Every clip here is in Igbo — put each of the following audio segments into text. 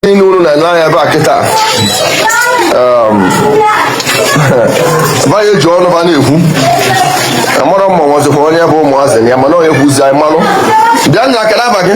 niile unu na n'anya ebe a kịta banye ji ọnụ ba na-ekwu amara mma nwazikwa onye bụ ụmụazị ya mana onye kwuzi anyị malụ bịa nna akara afa gị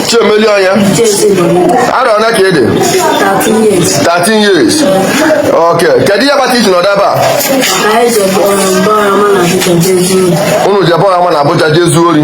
Chiemeli ọnya arọ one ka ị dị 13 years ok kedu ihe kpata iji nọdụ ebe a unu jebe ọha ma na Abuja je zuo ori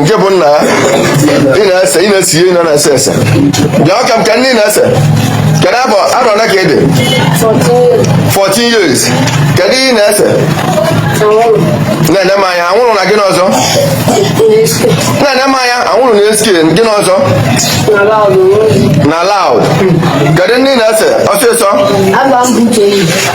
nke bụ nna ị na-ese ị na-ese ihe ị na-ese ese bịa ka m ka ndị na-ese kedu abụ arọ ole ka ị dị 14 years kedu ihe ị na-ese nene m anya anwụrụ na gịnị ọzọ nene m anya anwụrụ na SK gịnị ọzọ na loud kedu ndị ị na-ese ọsịsọ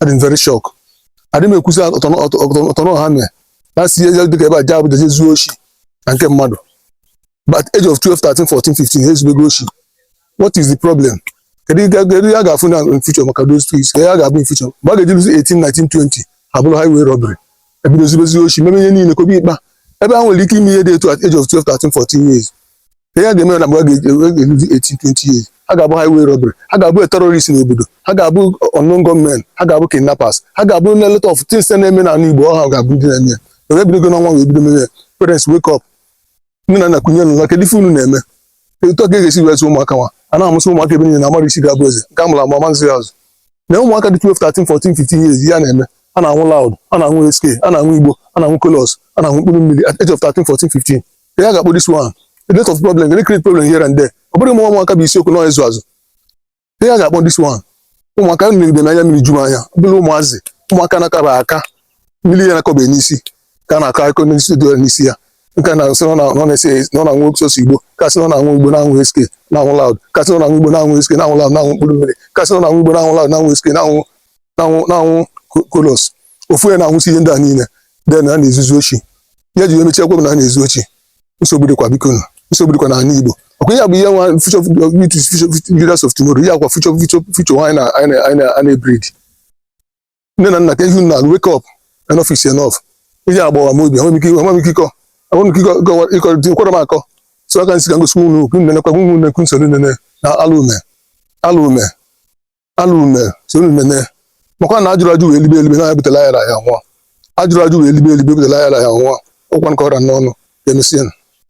adị m very shock adị m ekwusi ọtọnọ ha mee na si ihe dịka ebe ha jee Abuja jee zuo oshi na nke mmadụ but age of 12 13 14 15 ha ezubego oshi what is the problem kedu ihe kedu ihe a ga-afụ na in future maka those two years? kedu ihe ha ga-abụ in future mgbe ha ga-eji ruzi 18 19 20 ha bụrụ highway robbery ebido zubezi oshi meme ihe niile kobe ikpa ebe ha nwere ike ime ihe dị etu at age of 12 13 14 years ihe ha ga-eme na mgbe ha ga-eruzi 18 20 years ha ga-abụ highway robbery ha ga-abụ terrorist n'obodo ha ga-abụ unknown gunmen ha ga-abụ kidnappers ha ga-abụ a lot of things na-eme n'ala Igbo ọ ha ga-abụ ndị na-eme ya were ebidogo n'ọnwa wee bido mere ya parents wake up nne na nna kunie n'ụla kedu ife unu na-eme etu a ka e ga-esi wee zụọ ụmụaka nwa a na-amụsị ụmụaka ebe niile na amarọ isi ga-abụ eze nke amụrụ amụ amazi azụ na ụmụaka dị 12 13 14 15 years ya na-eme a na-anwụ loud a na-anwụ SK a na-anwụ igbo a na-anwụ colos a na-anwụ mkpụrụ mmiri at age of 13 14 15 kee ihe a ga-akpọ this one a lot of problem gonna create problem here and there ọ bụrụ ụmụ ụmụaka bụ isiokwu na ịzụ azụ kee ihe a ga-akpọ this one ụmụaka mmiri na anya mmiri ju m anya ọ bụrụ ụmụazị ụmụaka na-akaba aka mmiri ya na-akọba n'isi ka a na-akọ akụkọ n'isi dị n'isi ya nke na-asị na ọ na-esi na ọ na-anwụ sọsọ igbo nke a sị na ọ na-anwụ igbo na-anwụ SK na-anwụ loud nke a sị na ọ na-anwụ igbo na-anwụ SK na-anwụ loud na-anwụ mkpụrụ mmiri nke a sị na ọ na-anwụ igbo na-anwụ loud na-anwụ SK na-anwụ na-anwụ na-anwụ colos ofu onye na-anwụsi ihe ndị a niile then ha na-ezuzi oshi ya ji emechie ekwe m na ha na-ezu oshi nsogbu dịkwa biko nụ nsogbu dịkwa n'ala Igbo ọkwa ya bụ ihe nwa future youth is future future leaders of tomorrow ya kwa future future future nwa anyị na anyị na- anyị na- anyị na-ebreed nne na nna ka ihu na wake up enough is enough ihe agbawa m obi enweghị m ike enweghị m ike ịkọ enweghị m ike ịkọ- ịkọwa- ịkọ dị kwara m akọ so ọ ka m sị ka m gosi ụmụ unu nenekwa ụmụ unu ekwu soro nene na alụ eme alụ eme alụ eme sonụ m nene makwa na ajụrọ ajụ wee libe elibe na ya butelụ ayarọ aya nwụọ ajụrọ ajụ wee libe elibe butelụ ayarọ aya nwụọ ọkwa nke ọra n'ọnụ ka emesịa